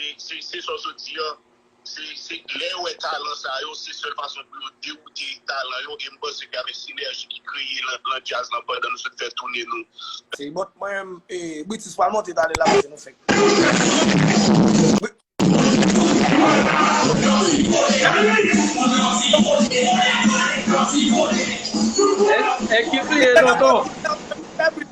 Se sa w sot di an, se lè yo wè talan sa yo, se sèl fason pou yo dewoute talan yo e m panse ke avèk sinèji ki kreye nan djaz lan pandan nou sot fè toune nou. Se bon mwen menm e Britis pral monte tale la paske nou fenk Eske se e tonton?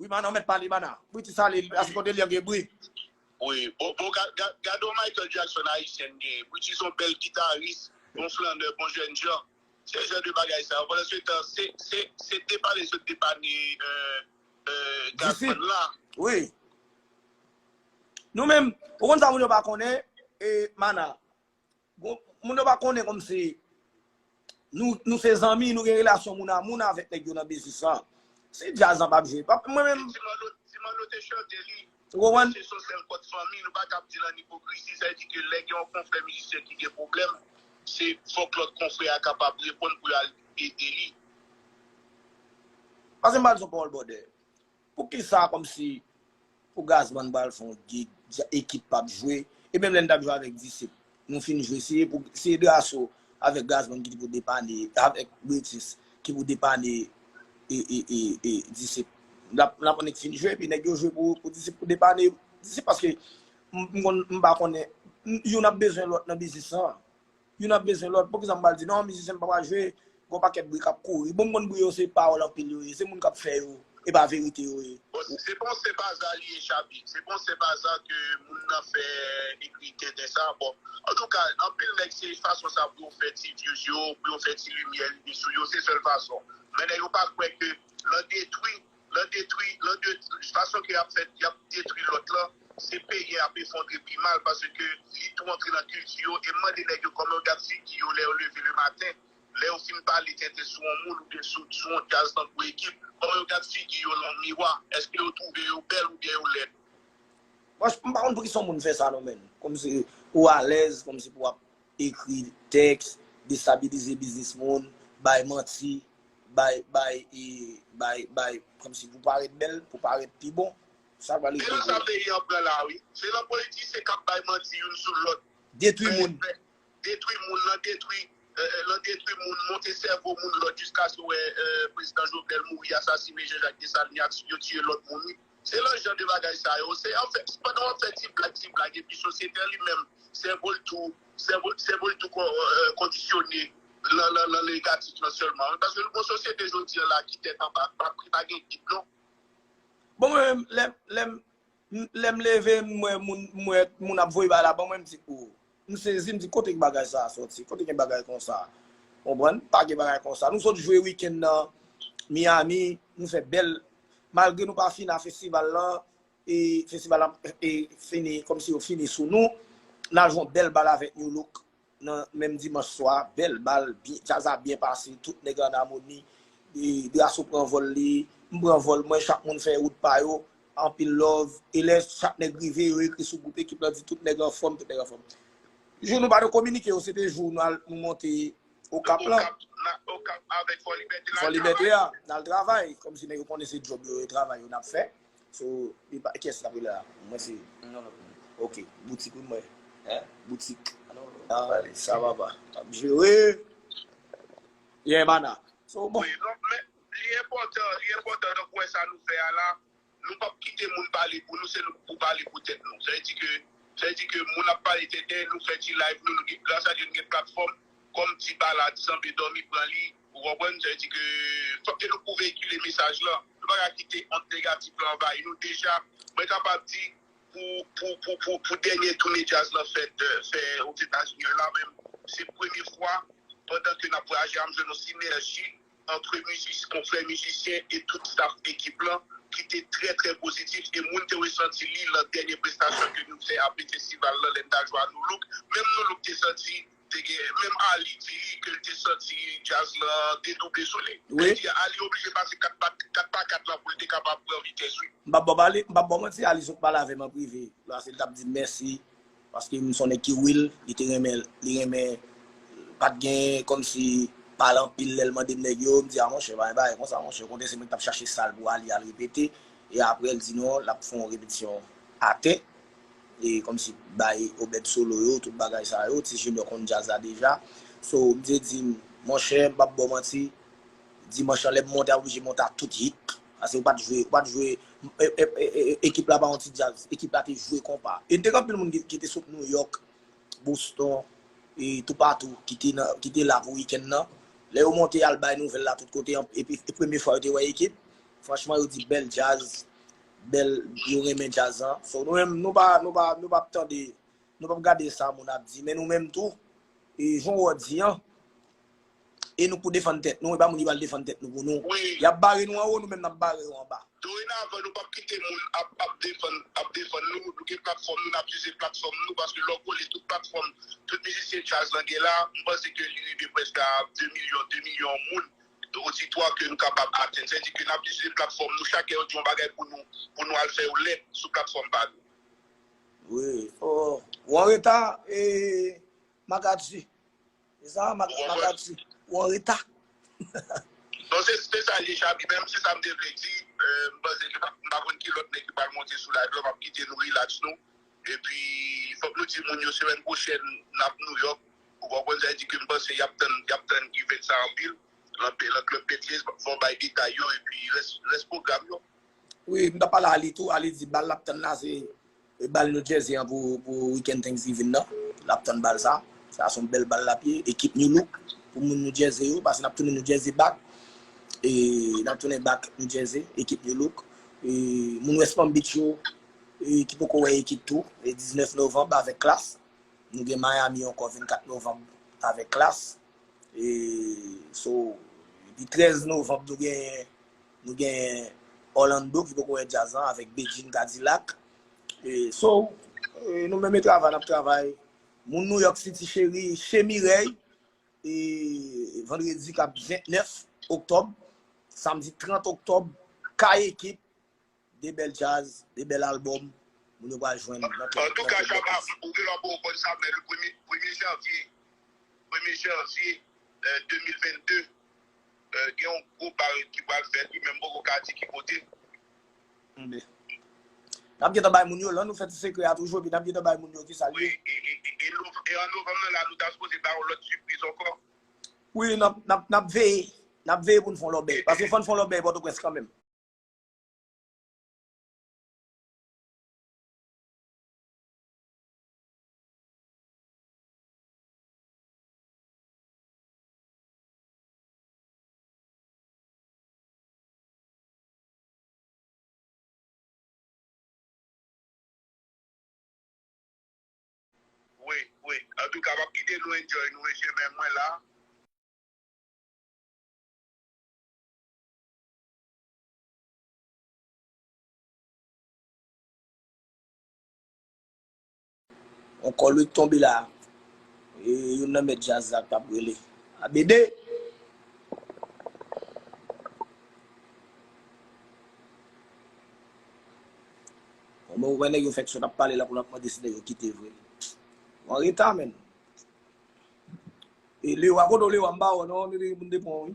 Wi mana ou mèt pale mana. Bri ti sale a se kote li an gen bri. Wi bon bon gade yon Michael Jackson ayisyen n genyen. Bri ti son bèl gitaris, yon flannè, bon jènjan. Se jan de bagay sa yo pandan se tan se depane sot depane Gazzman la. Wi. Nou menm ou konn sa moun yo pa konnen mana. Moun yo pa konnen kòm si nou se zanmi, nou gen relasyon moun a moun avèk nèg yo nan biznis lan. Si djaz lan pa ap jwe, pa mwen menm. Si Manno te chante li, se son sèl kòd fanmi, nou pa kab di l an ipokrizi. Sa vle di ke lè gen yon konfrè mizisyen ki gen pwoblèm, se fòk lòt konfrè a kapab reponn pou yo al ede li. Pase m ba l zon pawòl bòdè. Poukisa kòmsi pou Gazman pral fè yon gig ekip pap jwe e menm lè n tap jwe avèk Disip nou fin jwe se pou se Drasso avèk Gazman ki te pou depanne avèk Britis ki pou depanne e Disip lap lap annik fin jwe epi nèg yo jwe pou Disip pou depanne Disip paske m konn m pa konnen youn ap bezwen lòt nan biznis lan. Youn ap bezwen lòt, poukisa m pa l di non, mizisyen m pa pral jwe, gen yon pakèt bri k ap kouri. Bon m konn bri yo se pawòl anpil yo ye, se moun k ap fè yo, e pa verite yo ye. Bon, si se pa yon senp aza li ye Shabby, se pa yon senp aza ke moun nan fè ekri tenten sa a. Bon, antouka, anpil nèg se fason sa pou yo fè ti views yo, pou yo fè ti limyè rive sou yo, se sèl fason. Men nèg yo pa kwè ke lan detwi. lan detwi lan de fason ke yap fè yap detwi lòt lan se peyi an ap efondre pi mal paske li tou antre lan kilti yo e m mande nèg yo kòman yo gad figi yo lè yo leve le maten lè yo fin pale tenten sou on moun oubyen sou sou on djaz tankou ekip kòman yo gad figi yo lan miwa èske yo twouve yo bèl oubyen yo lèd. Mwen m pa konn poukisa yon moun fè sa non menn kòmsi ou alèz kòmsi pou wap ekri tèks, destabilize biznis moun, bay manti, bay, bay, bay, bay, kòmsi pou parèt bèl, pou parèt pi bon. Sa k pral rive pou ou? Se nan sa peyi an pran la a wi. Se nan politisyen k ap bay manti youn sou lòt. Detwi moun. Detwi moun, nan detwi, nan detwi moun, monte sèvo moun lòt jiskaske ou wè prezidan Jovenel mouri, asasine Jan Jak Desalin, yo tiye lòt moun wi. Se lòt jan de bagay sa yo. Se anfen, se pandan w ap fè ti blag, ti blag, epi sosyete an li menm, sèvo l tou, sèvo, sèvo l tou ko, kondisyone nan, nan, nan negatif lan sèlman wi. Paske nou gen yon sosyete jodi an la ki tèt anba, pa pri, pa gen gid non. Bon mwen menm, lè, lè m, lè m leve m wè moun, m wè moun ap voye bagay la ban mwen, m di, oh! M sezi m di kote bagay sa soti, kote gen bagay konsa. Konprann? Pa gen bagay konsa. Nou sot jwe wikenn nan Miami, nou fè bèl, malgre nou pa fina festival lan, e festival lan e fini kòm si yo fini sou nou. N al jwe yon bèl bal avèk Nu Look nan menm dimanch swa, bèl bal, djaz la byen pase, tout nèg an amoni, Drasso pran vòl li, m pran vòl mwen, chak moun fè wout pa yo, Anpil love e lè chak nèg rive yo ekri sou group ekip lan di tout nèg anfòm tout nèg anfòm jou nou pa te kominike yo se te jou nou al nou monte okap lan okap avèk fò libète la fò libète ya nal travay kòm si nèg yo konnen se djòb yo e travay yo nap fè so li pa kiyès nap rele la mwen se yon lòt moun ok boutik wi mwen hein boutik nap pale sa papa nap jere yeah mana so bon. Li enpòtan, li enpòtan donk ou wè sa nou fè a la, nou pap kite moun pale pou nou se nou pou pale pou tèt nou. Sa vle di ke, sa vle di ke moun ap pale tenten, nou fè ti live nou, nou gen gras a Dye nou gen platfòm, kòm ti balad sanble dòmi pran li, ou konprann, sa vle di ke fòk ke nou pou veyikile mesaj lan, nou pa ka kite ond negatif lan anvayi nou, deja mwen kapab di pou, pou, pou, pou, pou dènye toune djaz lan fèt, fè Ozetazini an la menm, se premye fwa pandan ke nap vwayaje a m jwenn yon sinèji antre mizis konfrè mizisyen e tout staff ekip lan ki te trè trè pozitif e moun te resanti li lan dènye prestasyon ke nou fè apre festival lan lè n ta jwe a Nu-Look menm Nu-Look te santi te gen menm Arly di li ke l te santi djaz lan te double sou li lè di a Arly oblije pase 4 pa 4 pa 4 lan pou l te kapab pran vitès wi. M pap baw m pap baw manti Arly sot pale avè m an prive lò a se l tap di m mèsi. Paske m sonnen ki will li te renmen li renmen pat gen kòmsi pale anpil lèl mandem nèg yo m di a monchè pa gen bagay konsa monchè okontrè se mwen ki tap chache sal pou Aly al repete e aprè l di non lap fon repetisyon atè e kòmsi bay Obed solo yo tout bagay sa yo ti Junior konn djaz la deja so misye dim monchè m pap baw manti Dimanch lan lèm monte a oblije monte a tout hit pase ou pat jwe ou pat jwe ekip la pa yon ti djaz ekip la te jwe konpa e te gen anpil moun ki te sot New York Boston e toupatou ki te la pou weekend nan lè yo monte yal bay nouvèl la tout kote epi se premye fwa yo te wè ekip franchman yo di bèl djaz bèl yo renmen djaz lan so nou menm nou pa nou pa nou pap tande nou pap gade sa moun ap di men nou menm tou e jan wou di an. e nou pou defann tèt nou, e pa moun ki pral defann tèt nou pou nou. Y ap bare nou anwo, nou menm n ap bare yo anba. Dorenavan, nou p ap kite moun ap defann nou. Nou gen platfòm nou, n ap ize platfòm nou. Paske lè w gole tout platfòm, tout mizisyen djaz lan gen la, m panse ke li rive prèske a 2 milyon, 2 milyon moun oditwa ke nou kapab atenn. Sa vle di ke n ap ize platfòm nou. Chak lè yo di yon bagay pou nou, pou nou al fè yon lèt sou platfòm pa nou. Wi. Ou anreta, Magadji. Se sa m ap di. Ou anreta. Bon, se sa l ye, Shabby. Men, se sa m te vle di. M panse ke m pa konn ki lòt nèg ki pral monte sou live la. M ap kite nou rilaks nou. E pi, fòk nou di moun yo semèn pwochèn n ap Nouyòk. Ou konprann sa? E di ke m panse y ap tann event sa anpil nan Club Betty's. Fò w bay detay yo e pi rès pwogram yo. Wi, m t ap pale a Ali tou. Ali di bal l ap tann la se Bal New Jersey an pou weekend Thanksgiving nan. N ap tann bal sa. Sa se yon bèl bal l ap ye. Ekip New Look pou moun New Jersey yo. Pase n ap tounen New Jersey back. N ap tounen back New Jersey. Ekip New Look. Moun West Palm Beach yo ki poko wè ekip tou. 19 Novanm avèk Klass. Nou gen Miami ankò 24 Novanm avèk Klass. E so epi 13 Novanm nou gen Nou gen Orlando ki poko wè djaz lan avèk Bedjine Cadillac. So, nou menm e travay nap travay. Moun New York City cheri, Chez Mireille e vandredi kap 29 oktòb, samdi 30 oktòb, Kay Ekip, De bèl djaz, de bèl album moun yo pral jwenn nan tèt Antouka bèt sa. Shabba ou gen lwa pouw konn sa men premye janvye premye janvye 2022 gen yon gwo bal ki pral fèt wi men m poko ka di ki kote. Anben. Nap gentan bay moun yo lan nou fè ti sekrè a toujou epi nap gentan bay moun yo kisal ye. E an novanm nan la nou ta sipoze bay yon lòt sipriz ankò. Wi nap veye nap veye poun fon lòbèy paske fòn fon lòbèy pòtoprens kanmenm. Wi wi antouka map kite nou enjoy nou mesye men mwen la. On kòlwit tonbe la, e youn nan mèt djaz la k ap rele Abede. Bon mwen wè nèg yo fèk sot ap pale la pou l ap mande si nèg yo kite vre. Ou an reta menn. E Lewa, kote w Lewa? M pa wè w non, m te gen pou m te pran w wi.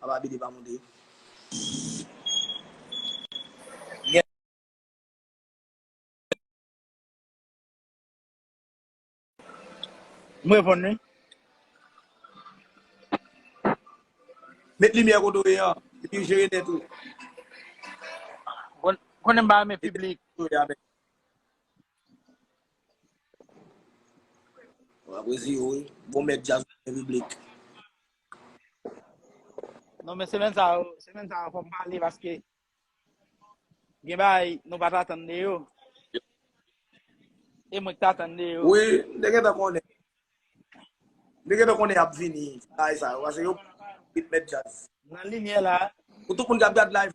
Papa BD pa moute. M reponn wi. Met limyè kote w ye an. Epi jere tèt ou. Konnen m pa renmen piblik. Wap resi yo wi. Bon mèt djaz ou renmen piblik. Non men semen sa yo, semen sa yo fòm pale paske gen bay nou pa ta tande yo. E mwen ta tande yo. Oui, mwen te gentan konnen. Mwen te gentan konnen ap vini bay sa yo. Ase yo ritme jazz. Nan limye la. Pou tout moun kap gad live.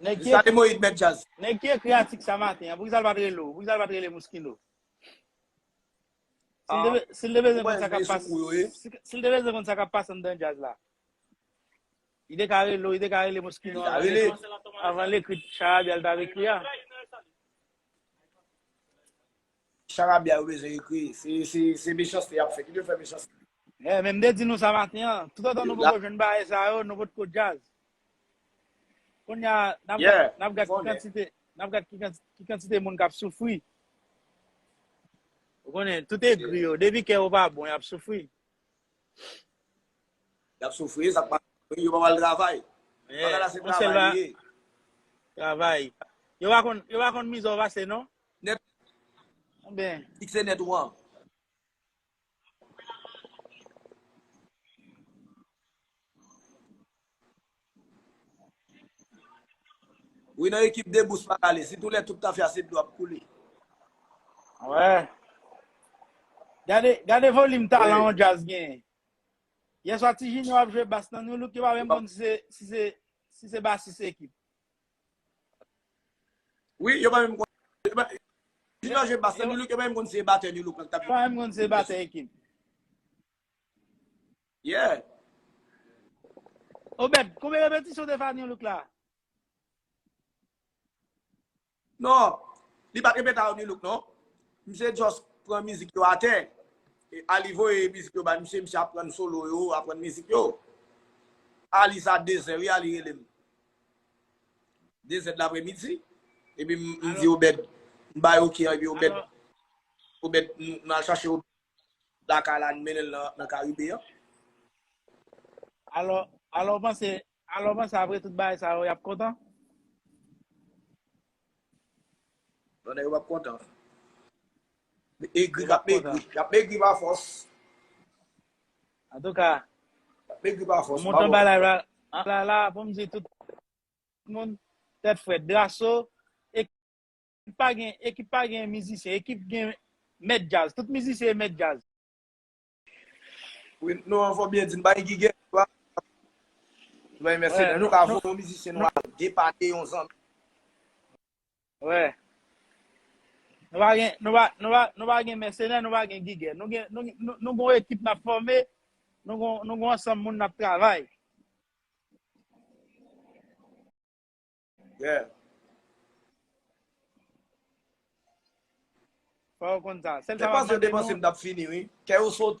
Nèg ki ekri Nèg ki ekri atik sa maten an pou kisa l pat rele w pou kisa l pat rele Mouskino si l te bezwen konn sa kap pase si l te bezwen konn sa kap pase anndan djaz la li te ka rele w li te ka rele Mouskino avan l ekri charabya l t ap ekri a. Charabya yo bezwen ekri, se mechanste yap fè, ki te fè mechanste. Eeh men m te di nou sa maten an, tout otan nou poko jwenn bagay sa yo, nou pot ko djaz. Kounya nap gad ki kantite, nap gad ki kantite moun kap soufri. Ou konnen, tout egri yo, depi kè yo pa bon yap soufri. Yap soufri, e sak pa bon, yo pa pral travay. Bagay la se travay li ye. Travay. Yo pa konn mizè w pase non. Net ou ben. Ki se net ou an. Wi nan ekip de bous pa kale. Si tou lè tout tafya se dlo ap koule. Wè. Gade volim talan yon djaz gen. Yeswa ti junior ap jwe bass nan nu look yo pa menm konn si se basis ekip. Wi, yo pa menm konn. Ti Dò jwe bas nan Nu-Look, yo pa menm konn si se batè Nu-Look lan ki t ap jwe. Yo pa menm konn si se batè ekip. Yeah. Obed, konbyen repetisyon w te fè a Nu-Look la? Non, li pa t repete a Nu-Look non. Misye just pran mizik yo atè. Ali voye mizik yo bay misye, misye aprann solo yo, aprann mizik yo. Ali sa 2 zè wi, Ali rele m. 2 zèd lapre midi, epi m di Obed, m bay ok an, epi Obed, Obed, m al chache Obed lakay la, m mennen l nan Karibe an. Alò, alò w panse, alò w panse apre tout bagay sa yo, y ap kontan? Bon nèg yo pap kontan. Egri kap megri. Yap megri pa fòs. An tou ka. Yap megri pa fòs. Mwen montan balay la. An la la pou m di tout moun tèt frèt. Drasso ekip pa gen ekip pa gen mizisyen. Ekip gen mèt djaz. Tout mizisyen e mèt djaz. Wi nou an fò byen di n bay gigè la. Bay mèsenè nou ka voye yon mizisyen nou al depane yon zanmi. Wè. Nou pa gen nou pa nou pa nou pa gen mèsenè nou pa gen gigè. Nou gen nou gen nou gon ekip n ap fòme, nou gon nou gon ansanm moun n ap travay. Yeah. Fò yo konn sa. Sèl sa pa Depanse yo mande depanse nou. m tap fini wi. Kè yo sote.